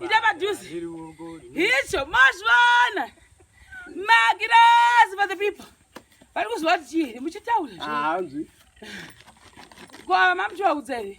ita padhuze icho mazvivana magirazi for the people vari kuziva kuti chii muchitaura hanzi ko mama muchivaudza here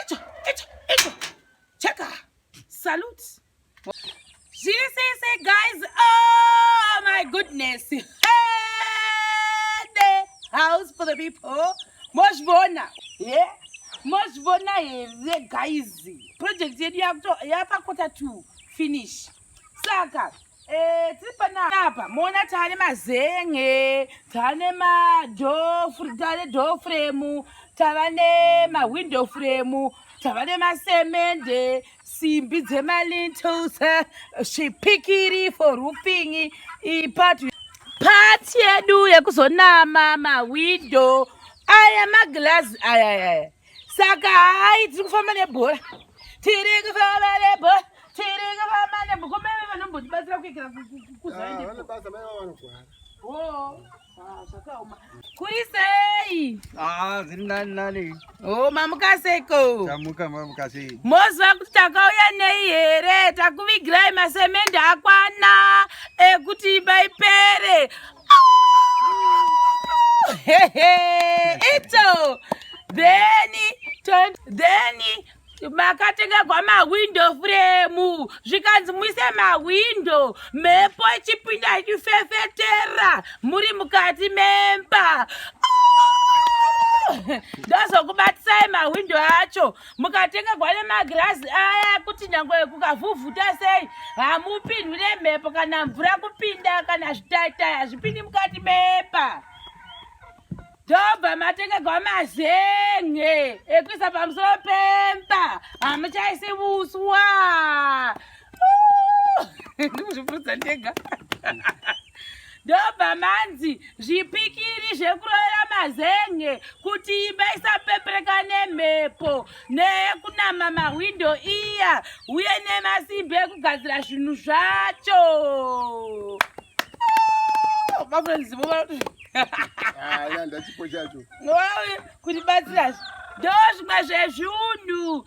Icho, icho, icho. Cheka. Salute. Zviri sese guys. Oh my goodness. Hey, the house for the people. Mozvibona. Yeah. Mozvibona here guys. Project yedu yapakota to finish. saka eh, tiri panapa moona tane mazenge tane tane door frame tava nemawindow frame tava nemasemende simbi dzemalintos zvipikiri for roofing ipati pati yedu yekuzonama mawindow aya maglazi ayayaya saka hayi tiri kufamba nebhora tiri kufamba nebhora tiri kufamba nebhora kome ve vanombotibatsira kuikira kuzaendevanobasa ah, mai vavanogwara oh, ah, kuri sei ah, ziri nani nani o oh, mamukaseiko tamuka mamukasei moziva kuti takauya nei here takuvigirai masemende akwana ekuti imba ipere ito then then makatengerwa mawindow frame zvikanzi muise mawindow mhepo ichipinda ichifefetera muri mukati memba ndozokubatisai mawindow acho ah! mukatenga gwale magirazi aya kuti nyange kukavhuvhuta sei hamupindwi nemhepo kana mvura kupinda kana zvitaitai hazvipindi mukati mepa ndobva matenga gwamazenge ekuisa pamusoro pemba hamuchaisi vuswa ndikuzvipurudza ndega ndobva manzi zvipikiri zvekuroyera mazenge kuti imba isapepereka nemhepo neyekunama mahwindo iya uye nemasimbi ekugadzira zvinhu zvacho mafrenzivo vanoti kuti batsirazvo ndo zvimwe zvezvunhu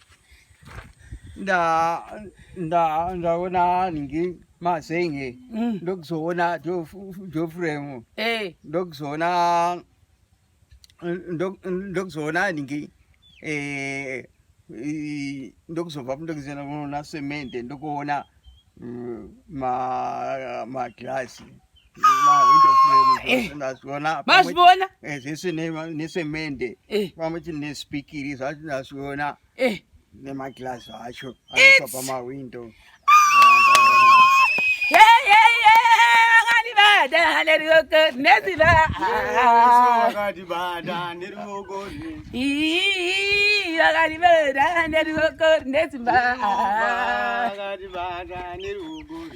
nda nda ndaona ningi mazenye mm. ndokuzoona jofremu hey. Eh. ndokuzoona ndokuzoona ningi eh, ndokuzobva ndokuzena kunoona semende ndokuona mm, magirasi mazviona eh, zvese nesemende eh. pamwe chii nespikiri zvacho nazviona eh. nemaglazi acho aiswa pamawindo vakaribada neruoko nesimba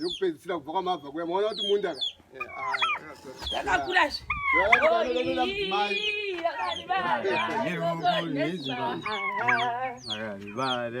yokupedzisira kubva kwamabva kuya maona kuti munda ka yakakura zve Bada,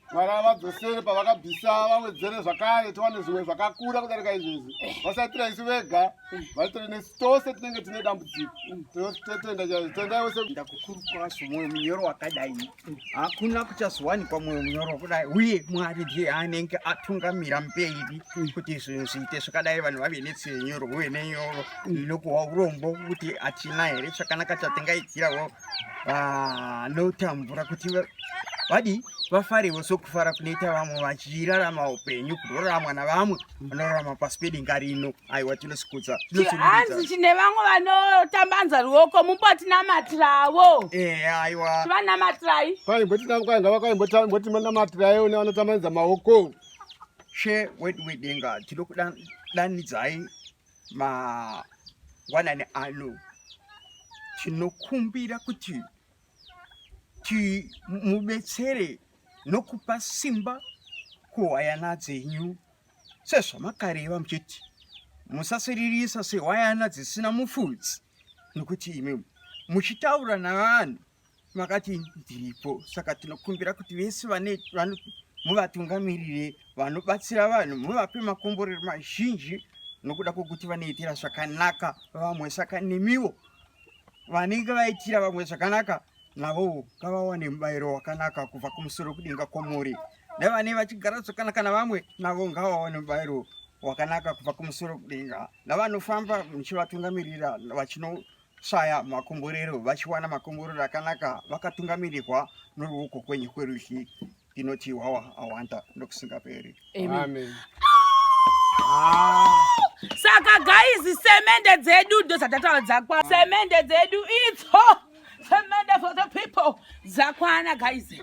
mwari avadzosere pavakabvisa vawedzere zvakare tiwane zvimwe zvakakura kudarika izvezvi vasaitira isu vega vaitire nesu tose tinenge tine dambudziko totenda chaizvo tendai wese ndakukuru kwasu mwoyo munyoro wakadai hakuna kuchazowanikwa mwoyo munyoro kudai uye mwari ndiye anenge atungamira mberi kuti zvinhu zviite zvakadai vanhu vave netsenyoro uye nenyoro inokuhwa urombo kuti hatina here chakanaka chatingaitirawo vanotambura ah, kuti vadii vafarewo sokufara kunoita vamwe vachirarama upenyu kunoraramwa navamwe vanorarama pasi pedenga rino aiwa tinosikudza hanzi chine vamwe vanotambanza ruoko mumbotinamatirawo eh, aiwa vanamatirai kwaimbotinamatirai une vanotambanza maoko she wedu wedenga tinokudanidzayi mangwanani ano tinokumbira kuti timubetsere nokupa simba kuhwayana dzenyu sezvamakareva muchiti musasiririsa sehwayana dzisina mufudzi nokuti imi muchitaura navanhu makati ndiripo saka tinokumbira kuti vese vane muvatungamirire vanobatsira vanhu muvape makomborero mazhinji nokuda kwokuti vanoitira zvakanaka vamwe saka nemiwo vanenge vaitira vamwe zvakanaka navowo ngavawane mubayiro wakanaka kubva kumusoro kudenga kwomuri nevanei vachigara zvakanaka navamwe navo ngavawane mubayiro wakanaka kubva kumusoro kudenga navanofamba muchivatungamirira vachino shaya makomborero vachiwana makomborero akanaka vakatungamirirwa noruoko kwenyu kwerudyi inoti wawa awanda nokusingaperi amen ah. saka gaizi semende dzedu ndozatataura dzakwa semende dzedu itso semende for the people dzakwana gaizi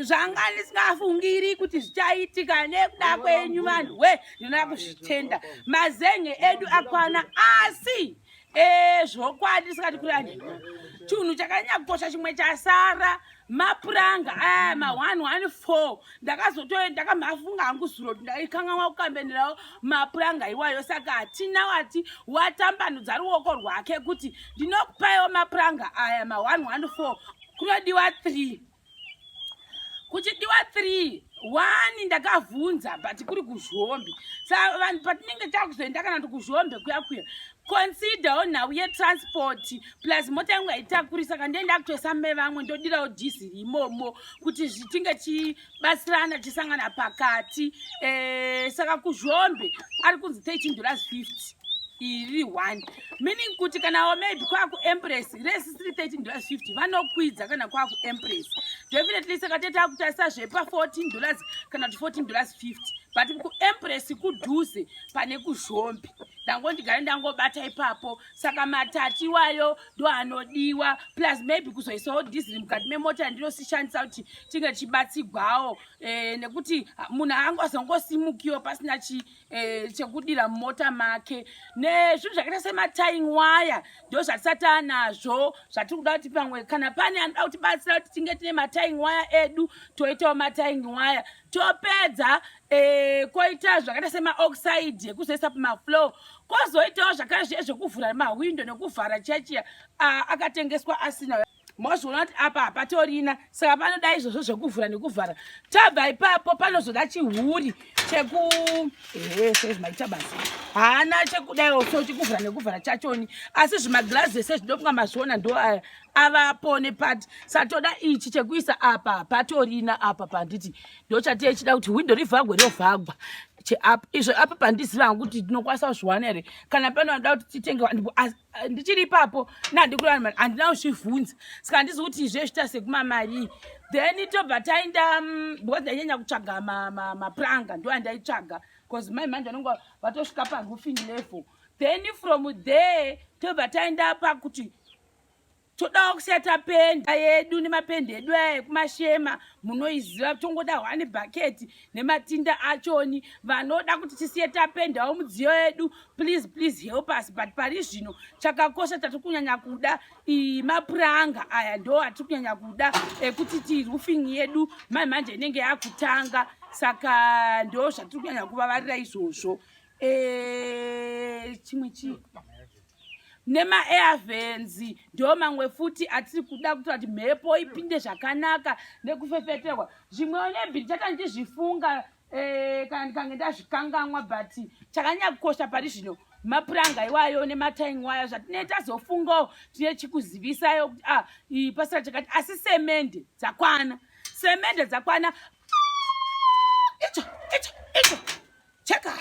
zvanga ndisingafungiri kuti zvichaitika nekuda kwenyu vanhu we ndinoda kuzvitenda mazenge edu akwana asi Eh, zvokwadi ndisikati kurani chinhu chakanyakukosha chimwe chasara mapuranga aya eh, ma114 ndakazotoe ndakamhafunga hangu zuro ndaikanganwa kukambenerawo mapuranga iwayo saka hatina wati watambanudza ruoko rwake kuti ndinokupaiwo mapuranga aya ma114 kunodiwa 3 kuchidiwa 3 wani ndakavhunza but kuri kuzhombe sa vanhu patinenge takuzoenda kana kuti kuzhombe kuya kuya considerwo nhau yetransport plus mota yangu haitakurisa ka ndiye ndakutoisa mai vamwe ndodirawo diesel imomo kuti zvitinge chibatsirana chisangana pakati e, saka kuzhombe ari kunzi 13 dollars 50 iri one meaning kuti kana wamaybe kwaku empress resi 330 dollars 50 vanokwidza kana kwaku empress definitely saka tete akutarisa zvepa 14 dollars kana kuti 14 dollars 50 but kuempress kudhuze pane kuzhombi ndangondigare ndangobata ipapo saka matati iwayo ndo anodiwa plus maybe kuzoisawo dhisiri mukati memota ndinosishandisa kuti tinge tichibatsigwawo e, nekuti munhu angozongosimukiwo pasina chii eh, chekudira mumota make nezvinhu zvakaita sematying waya ndo zvatisati anazvo zvatiri kuda kuti pamwe kana pane anoda kuti batsira kuti tinge tine matying waya edu toitawo matying waya topedza eh, koita zvakaita semaoxide yekuzoisa pamaflow kozoitawo zvakare zviye zvekuvhura mahwindo nekuvhara chachiya ah, akatengeswa asina mozoona kuti apa hapatorina saka panoda izvozvo zvekuvhura nekuvhara tabva ipapo panozoda chihuri cheku ehe sezvimaita basa haana chekudaiwo so chekuvhura nekuvhara chachoni asi zvimagirazi ese zvidofunga mazviona ndo aya avapo nepati satoda ichi chekuisa apa hapatorina apa panditi ndo chatiye chida kuti hwindo rivhagwe riovhagwa cheapa izvo apa pandiziva hangu kuti ndinokwanisa kuzviwana here kana panoda kuti titenge Eh, ndichiri ipapo nandikurana handina kuzvivhunza saka handizi kuti izvezvita sekumamarii then tobva taenda mm, because ndainyanya kutsvaga mapranga ndo andaitsvaga bcause mai manje vanenge vatosvika paroofing level then from there tobva taenda pakuti todawo kusiya tapenda yedu nemapendi edu aya ekumashema munoiziva tongoda hwani bhaketi nematinda achoni vanoda kuti tisiye tapendawo mudziyo yedu please please help us but pari zvino chakakosha tatiri kunyanya kuda mapuranga aya ndo atiri kunyanya kuda ekuti ti roofing yedu mai manje inenge yakutanga saka ndo zvatiri kunyanya kuvavarira izvozvo eh, chimwe chii nemaairvenzi ndo mamwe futi atiri kuda kutora kuti mhepo ipinde zvakanaka nekufefeterwa zvimwe onebhiri chata ndichizvifunga eh, kana ndikange ndazvikanganwa but chakanyanya kukosha pari zvino mapuranga iwayo nemataing wayo zvatinee tazofungawo tine chikuzivisayo kuti a ah, pasira chakati asi semende dzakwana semende dzakwana icho icho icho cheka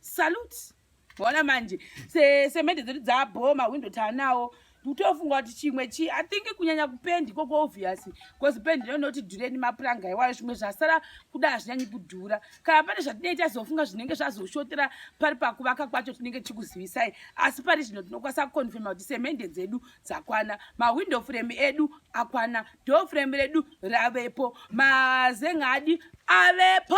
salute Wona manje se semende dzedu dzabhoma window tanawo kutofunga kuti chimwe chi i think kunyanya kupendi koko obvious because pendi no not dureni mapuranga iwayo zvimwe zvasara kuda hazvinyanyi kudhura kana pane zvatinenge tazofunga zvinenge zvazoshotera pari pakuvaka kwacho tinenge tichikuzivisai asi pari zvino tinokwanisa kuconfirma kuti semende dzedu dzakwana mawindow frame edu akwana door frame redu ravepo mazengadi avepo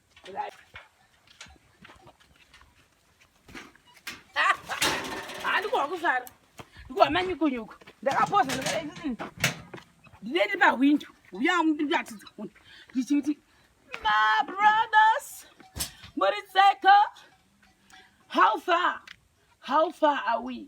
handikuwa kuzara ndikuwa manyukunyuku ndakapoza ndinende pahwindo uya ndiratidza munhu ndichiti my brothers muri tseka how far how far are we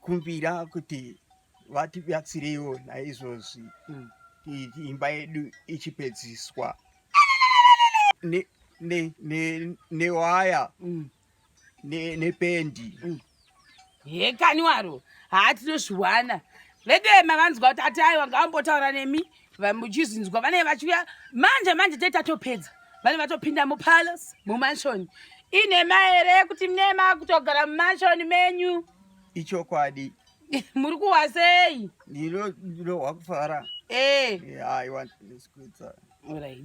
kumbira kuti vatibatsireiwo naizvozvi mm. imba yedu ichipedziswa newaya mm. nependi mm. hekani waro haa tinozviwana vedema vanzwa kuti ati aiwa ngaambotaura nemi vamuchizinzwa vanenge vachiuya manje manje tete atopedza vanenge vatopinda mupalace mumanshoni inhema here kuti mnema kutogara mumanshoni menyu ichokwadi muri kuhwa sei ndirohwa kufara eh. aiwa ndisikuitsa right